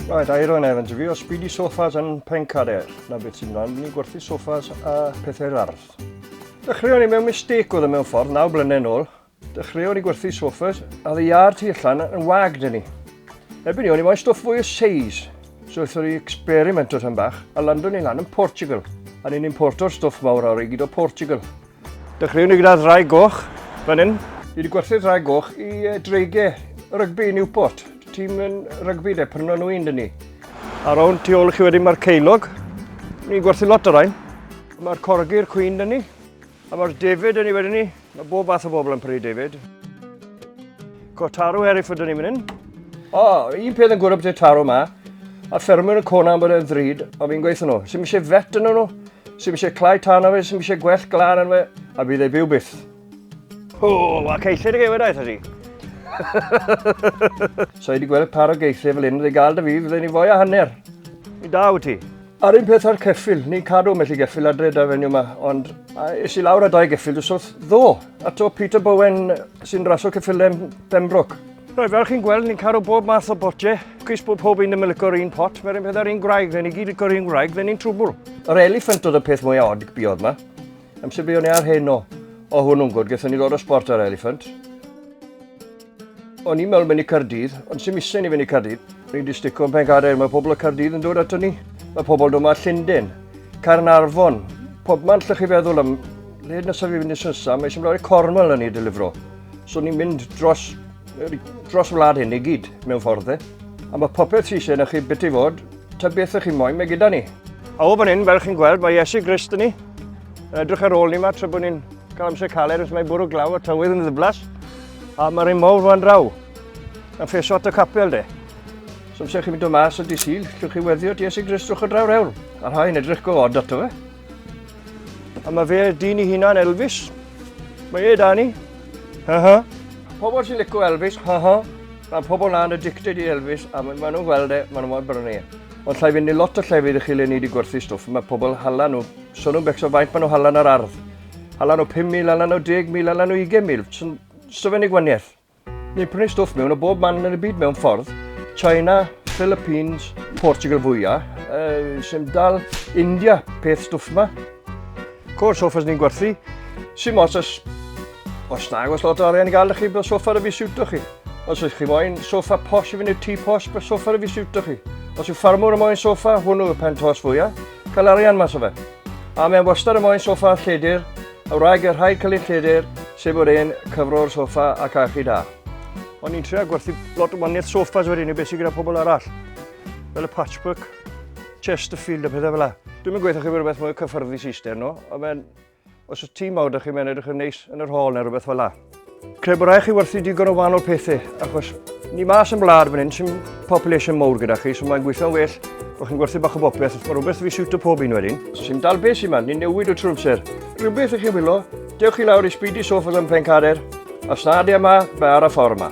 Right, Iron Evans, fi o Speedy Sofas yn Pencader. Na beth sy'n rhan, ni gwerthu sofas a pethau'r ardd. Dechreuon ni mewn mistake oedd y e mewn ffordd, naw blynedd yn ôl. Dechreuon ni gwerthu sofas, a ddi ar tu allan yn wag dyn ni. Erbyn ni, o'n i moyn stwff fwy o seis. So wrthyn ni experiment o rhan bach, a landwn ni lan yn Portugal. A ni'n importo'r stwff mawr awr i gyd o Portugal. Dechreuwn ni gyda ddraig goch, fan hyn. Ni wedi gwerthu'r ddraig goch i dreigiau rygbi Newport. Tîm yn rygbi de, pryno nhw un dyn ni. Ar awn tu ôl i chi wedyn mae'r ceilog. Ni'n gwerthu lot o rain. Mae'r corgi'r cwyn dyn ni. A mae'r David yn ei wedyn ni. Mae bob fath o bobl yn prynu David. Go taro erif ydyn ni fan hyn. O, oh, un peth yn gwrdd y taro yma, a ffermwyr yn cona am bod e'n ddrud, ond fi'n gweithio nhw. Sy'n eisiau fet yn nhw, Sy'm eisiau clau tan o fe, sy'm eisiau gwell glan yn fe, a bydd ei byw byth. O, a ceithir y gefyd aeth ydi. so i wedi gweld par o geithir fel hyn, fe gael dy fi, fydden ni fwy a hanner. Mi da wyt ti. A'r un peth ar ceffil, ni'n cadw mellu geffil adre da fenyw yma, ond es i lawr a dau geffil dwsodd ddo. A to Peter Bowen sy'n rasio ceffilem Pembroke. Rhaid fel chi'n gweld, ni'n caru bob math o botiau. Cwys bod pob un yn mynd licor un pot, mae'r un peth ar un gwraig, fe ni gyd licor un gwraig, fe ni'n trwbl. Yr elephant oedd y peth mwy odd y biodd ma. Amser biodd ni ar hyn o, o hwnnw'n gwrdd, gethon ni ddod o sport ar elephant. O'n i'n meddwl mynd i Cardydd, ond sy'n misau ni fynd i Cardydd. Ni'n distico yn pencader, mae pobl y Cardydd yn dod ato ni. Mae pobl dod yma Llundain, Carnarfon, pob man lle chi feddwl am... Led nes fi fynd i Swnsa, mae eisiau mynd i Cornwall yn ei delifro. So ni'n mynd dros, dros wlad hyn i gyd, mewn ffordd e. A mae popeth sy'n sy'n chi beth i fod, ta beth ych chi'n moyn, mae gyda ni. A o fan hyn, fel chi'n gweld, mae Iesu Grist yn ni. Yn edrych ar ôl ni yma, tra bod ni'n cael amser caled, os mae bwrw glaw a tywydd yn ddyblas. A mae'r un mawr fan draw, yn ffeso at y capel de. So amser chi'n mynd o mas y disil, llwch chi weddio at Iesu Grist drwch o draw rewl. A rhai'n edrych go od ato fe. A mae fe dyn i hunan Elvis. Mae e da ni. Ha ha. Pobl sy'n licio Elvis, ha ha. Mae pobl na'n addicted i Elvis a maen nhw'n gweld e, maen nhw'n gweld brynu e. Ond llai fynd i lot o llefydd i chi le ni wedi gwerthu stwff. Mae pobl hala nhw. So nhw'n becso faint maen nhw hala nhw'r ardd. Hala nhw 5,000, hala nhw 10,000, hala nhw 20,000. So fe'n ei gwaniaeth. Ni'n prynu stwff mewn o bob man yn y byd mewn ffordd. China, Philippines, Portugal fwyaf, uh, sy'n dal India, peth stwff ma. Cwr soffas ni'n gwerthu, sy'n os os, os nag os lot o arian i gael chi, bydd sofa ar y fi siwto chi. Os ydych chi moyn sofa posh i fynd i'r tŷ posh, bydd sofa ar y fi siwto chi. Os yw ffarmwr y moyn sofa, hwnnw y pen tos fwyaf, cael arian mas o fe. A mae'n wastad y moyn sofa lledir, Wraig y rhai cyllid lledr, sef bod e'n cyfro'r soffa a cachu da. O'n i'n trio gwerthu lot o waniaeth soffas wedyn i beth sy'n gyda pobl arall. Fel y patchwork, Chesterfield a pethau fel la. Dwi'n mynd gweithio chi bod rhywbeth mwy cyffyrddus eistedd, no? Ond os y tîm mawr ydych chi'n mynd edrych yn neis yn yr hôl neu rhywbeth fel la. Credu bod rhaid chi werthu digon o wahanol pethau, achos ni mas yn blad fan hyn sy'n population mowr gyda chi, so mae'n gweithio'n well bod chi'n gwerthu bach o bopeth, mae rhywbeth fi siwt o pob un wedyn. Sy'n dal beth sy'n man, ni'n newid o trwy amser. Rhywbeth i chi wylo, dewch chi lawr i Speedy Sofas yn Pencader, a snadio yma, mae ar y ffordd yma.